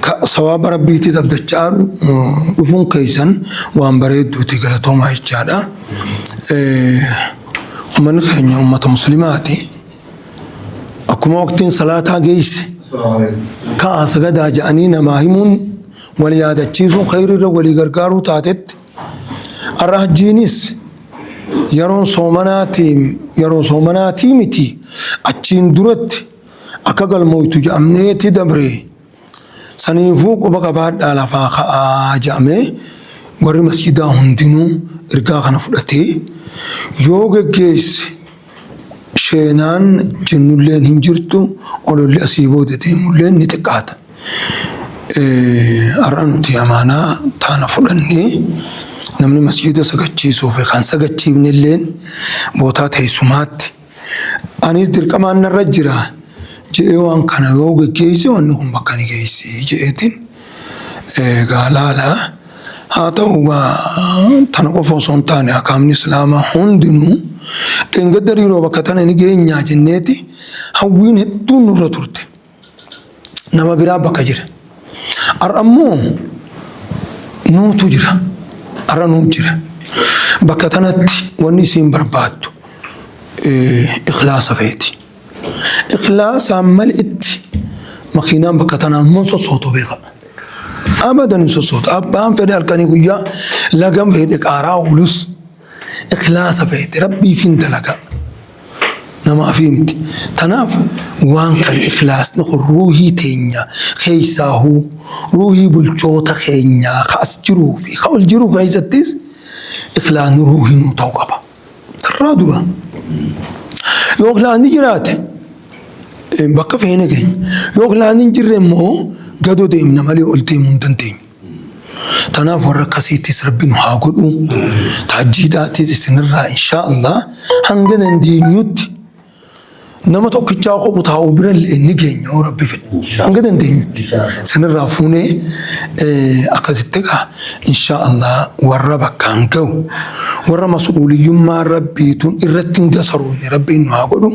Ka sawaaba Rabbiitiis abdachaa dhufuun keessan waan bareedduuti galatoomaa jechaadha. Ummanni keenya ummata muslimaati. Akkuma waqtiin salaataa geesse ka'aa sagadaa ja'anii namaa himuun wal yaadachiisuu khayriirra walii gargaaruu taatetti har'a hajjiinis yeroon soomanaatii yeroo soomanaatii miti achiin duratti akka galmooytu jedhamneeti dabre. Saniifuu quba qabaadhaa lafaa ka'aa jedhamee warri masjidaa hundinuu ergaa kana fudhatee yoo geggeesse sheenaan jennulleen hin jirtu ololli asii booda deemulleen ni xiqqaata. Har'a nuti amaanaa taana fudhannee namni masjida sagachiisuuf kan sagachiifnelleen bootaa teessumaatti Anis dirqamaan narra jira jedhee waan kana yoo geggeesse wanni kun bakka ni geessi jedheetiin egaa laala. Haa ta'u egaa tana qofa osoo hin taane akaamni Islaamaa hundinuu dheengadda riiroo bakka tana ni geenyaa jenneeti hawwiin hedduun nurra turte. nama biraa bakka jira. Har'a immoo nuutu jira. Har'a nuu jira. Bakka kanatti wanni isiin barbaaddu ikhlaasa feeti. Ikhlaasaan malitti makiinaan bakka tanaa immoo sossootu beeka. Abadan hin sossootu. Abbaan fedhe halkanii guyyaa lagam fedhe qaaraa oolus. Ikhlaasa feete Rabbiifiin dalagaa. Namaafii miti. Tanaaf waan kana ikhlaasni kun ruuhii teenya keessaahuu ruuhii bulchoota keenyaa ka as jiruu fi ka ol jiru keessattis ikhlaasni ruuhii nuu ta'u qaba. Irraa dura yoo ikhlaasni jiraate bakka feene keenya yoo ikhlaasni hin jirre immoo gadoo deemna malee ol deemuu hin dandeenyu. Tanaaf warra akkasiitis rabbi nu haa godhu. Taajjiidhaatis isinirraa inshaa Allah hanga dandeenyutti nama tokkichaa qobu taa'u bira illee ni geenya yoo rabbi fedhe. Hanga dandeenyutti isinirraa fuunee akkasitti egaa inshaa Allah warra bakkaan ga'u warra mas'uuliyyummaa rabbiitun irratti hin gasaroofne rabbiin nu haa godhu.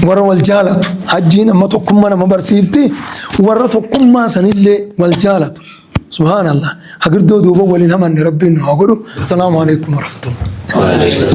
Warra wal jaalatu hajjiin amma tokkummaa nama barsiifti. Warra tokkummaa sanillee wal jaalatu. Subhaanallah. Hagirdoo duuba waliin hamanne rabbiin nu haa godhu. Salaamu alaikum warahmatullahi.